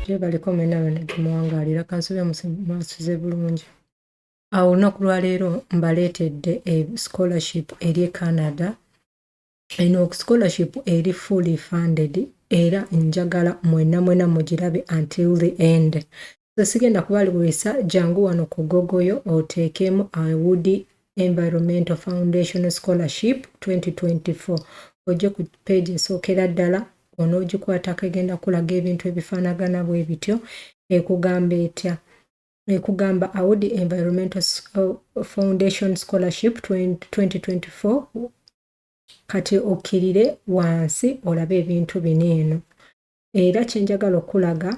gyebaliko mwena bana gyemuwangaalira kansube mwasuze bulungi awo olunaku lwaleero mbaleetedde e scholarship eri e canada eno scholarship eri fully funded era njagala mwena mwena mugirabe until the end so sigenda kubalwisa jangu wano ku gogoyo oteekemu awudi environmental foundation scholarship 2024 ojje ku page esookera ddala onoogikwatako egenda kulaga ebintu ebifaanagana bwe bityo ekugamba etya ekugamba awudi environmental uh, foundation scholarship 2024 Kati okkirire wansi olabe ebintu bino eno. Era kye njagala okukulaga,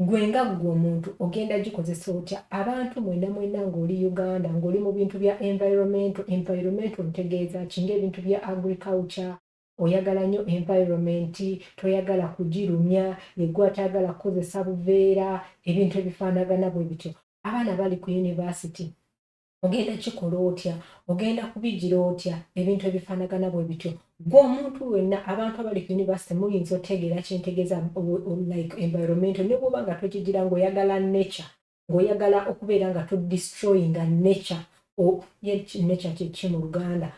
ggwe nga ggwe omuntu ogenda gikozesa otya? Abantu mwenna mwenna ng'oli Uganda, ng'oli mu bintu bya environmental, environmental ntegeeza ki? Ng'ebintu bya agriculture, oyagala nnyo environment, toyagala kugirumya, ye ggwe ataagala kukozesa buveera, ebintu ebifaanagana bwe bityo. Abaana abali ku yunivasite, ogenda kikola otya ogenda kubigira otya ebintu ebifanagana bwe bityo gwe omuntu wenna abantu abali ku univesity muyinza otegeera kyentegeeza like environmental ne bwoba nga tokigira ngaoyagala nature ngaoyagala okubeera nga to destroyinga nature nature kyekki mu luganda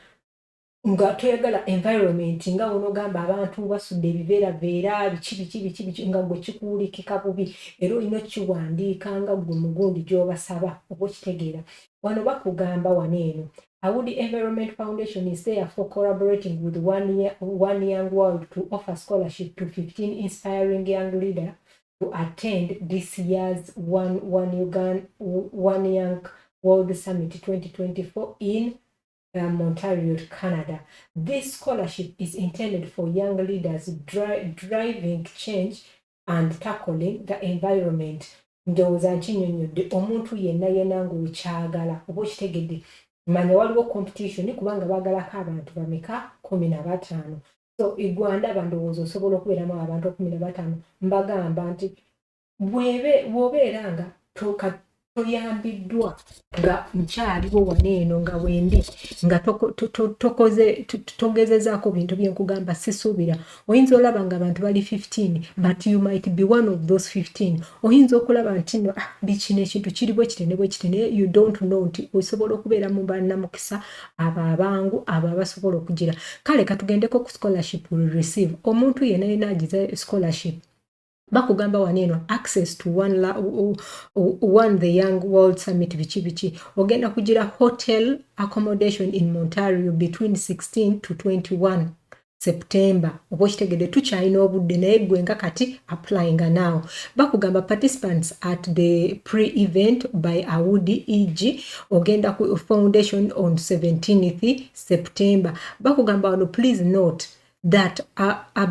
nga toyagala environment nga wonogamba abantu basudde ebiveeraveera biki biki biki biki nga gwe kikuwulikika bubi era olina okiwandiika nga gwe mugundi gy'obasaba oba okitegeera wano bakugamba wano eno Awudi Environment Foundation is there for collaborating with one, year, one Young World to offer scholarship to 15 inspiring young leader to attend this year's One, one, Uganda, one Young World Summit 2024 in from Ontario, Canada. This scholarship is intended for young leaders dri driving change and tackling the environment. Ndowooza nkinyonyodde omuntu yenna yenna ng'okyagala oba okitegedde manya waliwo competition kubanga bagalako abantu bameka kumi na bataano so igwanda bandowooza osobola okubeeramu abantu kumi na bataano mbagamba nti bw'obeera nga toyambiddwa nga mukyaliwo wano eno nga wendi nga togezezaako bintu byenkugamba sisuubira oyinza olaba nga abantu bali 15 but you might be one of those 15 oyinza okulaba nti no ah, bikino ekintu kiri bwe kiti ne bwe kiti naye you don't know nti osobola okubeera mu banamukisa abo abangu abo abasobola okugira kale katugendeko ku scholarship will receive omuntu yena yena agize scholarship bakugamba wano eno access to one, la, one the young world summit biki biki ogenda kugira hotel accommodation in montario between 16 to 21 september oba okitegedde tukyalina obudde naye gwe nga kati applyinga now bakugamba participants at the pre-event by audi eg ogenda ku foundation on 17th september bakugamba wano please note that uh, uh,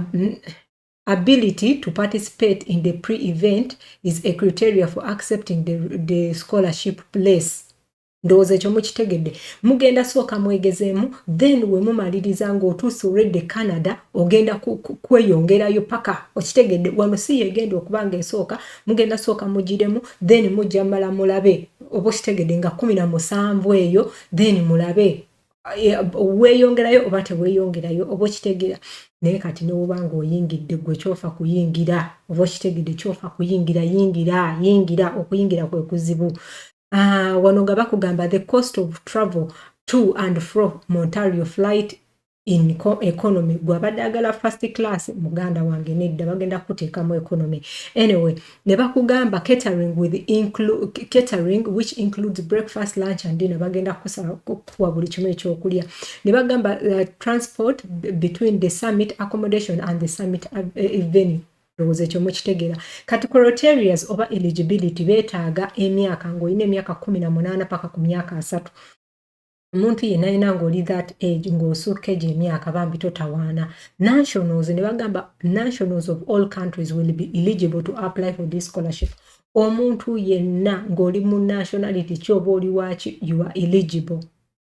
ability to participate in the pre-event is a criteria for accepting the, the scholarship place ndowooza ekyo mukitegedde mugenda sooka mwegezeemu then wemumaliriza ngaotuuse olwedde canada ogenda kweyongerayo paka okitegedde wano si yegenda okuba nga esooka mugenda sooka mugiremu then mujja mala mulabe oba okitegedde nga kumi na musanvu eyo then mulabe eh, weeyongerayo oba teweeyongerayo oba okitegeera naye kati newoba nga oyingidde gwe kyofa kuyingira oba okitegedde kyofa kuyingira yingira yingira okuyingira kwe kuzibu ah, wano nga bakugamba the cost of travel to and fro montario flight in economy gwabadde agala first class muganda wange nedda bagenda kukuteekamu economy anyway ne bakugamba catering with inclu catering which includes breakfast lunch and dinner bagenda kusala kuwa buli kimu ekyokulya ne bagamba uh, transport between the summit accommodation and the summit uh, eh, venue ndowooza ekyo mukitegeera kati croterias oba eligibility beetaaga emyaka ng'olina emyaka kumi na munaana paka ku myaka asatu omuntu yenna yena ng'oli that age ng'osukka egyo emyaka bambi totawaana nationals ne bagamba nationals of all countries will be eligible to apply for this scholarship omuntu yenna ng'oli mu nationality kyoba oli waaki you are eligible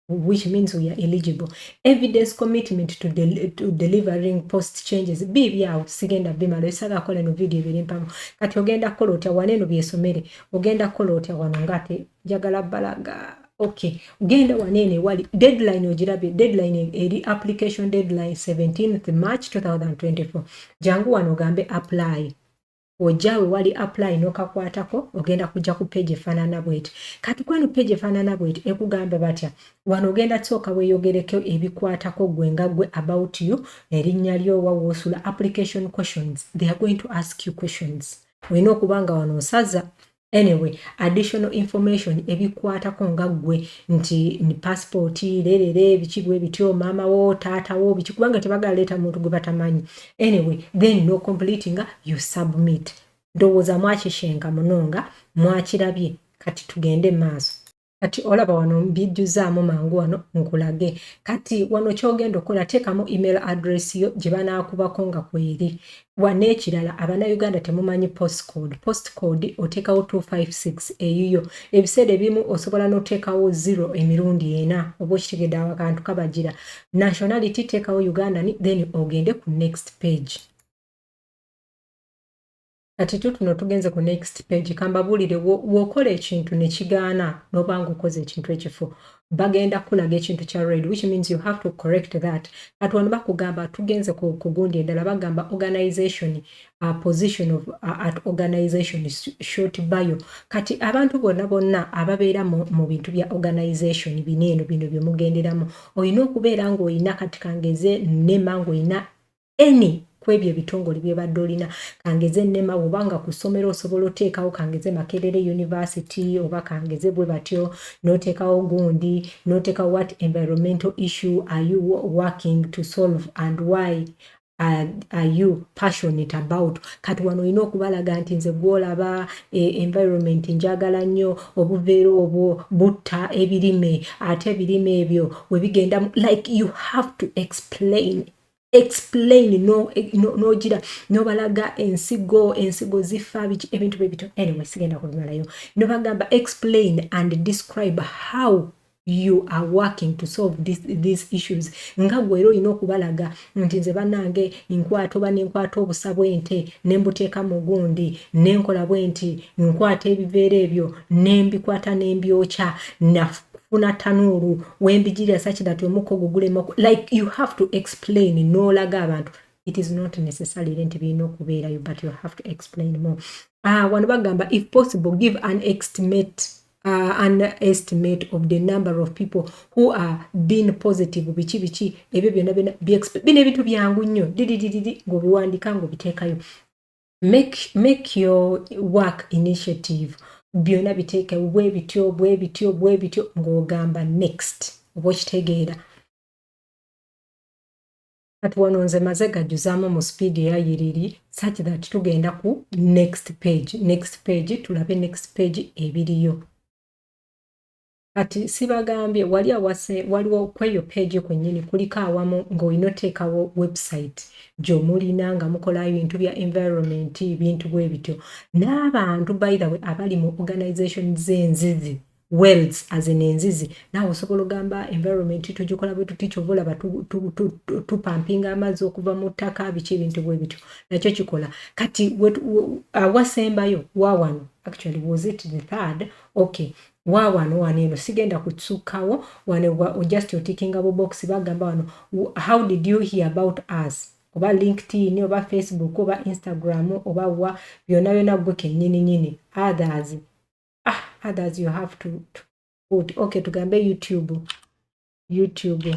which means we are eligible evidence commitment to, del to delivering post changes biibyawo sigenda bimala esaga kola no video ebiri mpamu kati ogenda kukola otya wano eno byesomere ogenda kukola otya wano ngaate njagala balaga okay genda waneeno ewali deadline ogirabye deadline eri application deadline 17th march 2024 jangu wano ogambe apply ojja we wali apply nokakwatako ogenda kujja ku page efaanana bweti kati kweno page efaanana bweti ekugamba batya wano ogenda tusooka weyogereko ebikwatako gwe nga gwe about you erinnya lyowa wosula application questions they are going to ask you questions olina okuba nga wano osaza anyway additional information ebikwatako nga ggwe nti ni passport lerere biki bwe bityo maama wo taata wo biki kubanga tebagala leeta muntu gwe batamanyi anyway then no complete nga you submit ndowooza mwakishenka munonga mwakirabye kati tugende maaso kati olaba wano mbijjuzaamu mangu wano nkulage kati wano kyogenda okukola teekamu email address yo gye banaakubako nga kweri wa n'ekirala abanauganda temumanyi postcode postcode oteekawo 256 eyiyo ebiseera ebimu osobola n'oteekawo zero emirundi ena oba okitegedde awo akantu kabagira nationality teekawo ugandan then ogende ku next page kati tutuno tugenze ku next page kambabuulire wokola ekintu nekigaana nobanga okoze ekintu ekifu bagenda kulaga ekintu kya red which means you have to correct that kati wano bakugamba tugenze kugundi endala bagamba organization uh, position of uh, at organization short bio kati abantu bonna bonna ababeera mu bintu bya organization bineeno bino byemugenderamu olina okubeera ngaolina kati kangeze nema ngaolina any kwebyo ebitongole byebadde olina kangeze nema oba nga ku ssomero osobola oteekawo kangeze makerere university oba kangeze bwe batyo n'oteekawo gundi n'oteekawo what environmental issue are you working to solve and why are, are you passionate about kati wano olina okubalaga nti nze gwolaba e, environment njagala nnyo obuveera obwo butta ebirime ate ebirime ebyo webigendamu like you have to explain explain no no no jira no balaga ensigo ensigo zifa biki ebintu bye bito anyway sigenda ku bimalayo no bagamba explain and describe how you are working to solve this, these issues nga gwe era olina okubalaga nti nze banange nkwata oba nenkwata obusa bwente nembuteeka mu gundi nenkola bwenti nkwata ebiveera ebyo nembikwata nembyokya funa tanuulu wembijirira such that omukka ogwo gulema like you have to explain n'olaga abantu it is not necessarily nti birina okubeerayo but you have to explain more uh, wano bagamba if possible give an estimate uh, an estimate of the number of people who are being positive biki biki ebyo byona bino ebintu byangu nnyo dididididi ngaobiwandika ngaobiteekayo make, make your work initiative byona biteeke bwe bityo bwe bityo bwe bityo ng'ogamba next oba okitegeera kati wano nze maze gajuzaamu mu sipiidi eya yiriri such that tugenda ku next page next page tulabe next page ebiriyo kati sibagambye wali awase waliwo kweyo page kwenyini kuliko awamu ng'olina oteekawo website gyomulina nga mukolayo bintu bya environment bintu bwe bityo n'abantu by the way abali mu organization z'enzizi wells as in enzizi naawe osobola ogamba environment tugikola bwe tuti kyova olaba tupampinga amazzi okuva mu ttaka biki ebintu bwe bityo nakyo kikola kati awasembayo wawano actually was it the third okay wa wano wano eno sigenda kutsukkawo wano just otikinga bu box bagamba wano how did you hear about us oba linkedin oba facebook oba instagram oba wa byonna byonna gwe kennyini nyini others ah others you have to, to put okay tugambe youtube youtube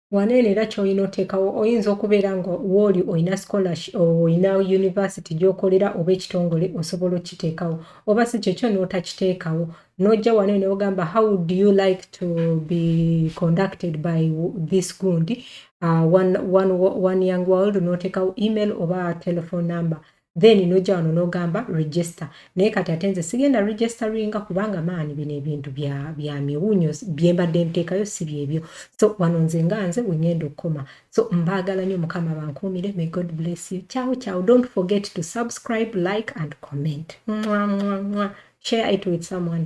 wano eno era kyolina oteekawo oyinza okubeera nga wooli olina scholarship olina university gyokolera oba ekitongole osobola okukiteekawo oba si kyekyo n'otakiteekawo nojja wano eno ogamba how do you like to be conducted by this gundi uh, one, one, one young world n'oteekawo email oba telephone number then nojja wano nogamba register naye kati ate nze sigenda registeringa kubanga maani bino ebintu bya, bya miwunyo byembadde nteekayo si byebyo so wano nze nga nze wengenda okukoma so mbaagala nnyo mukama bankuumire may god bless you ciao ciao don't forget to subscribe like and comment mwa mwa mwa share it with someone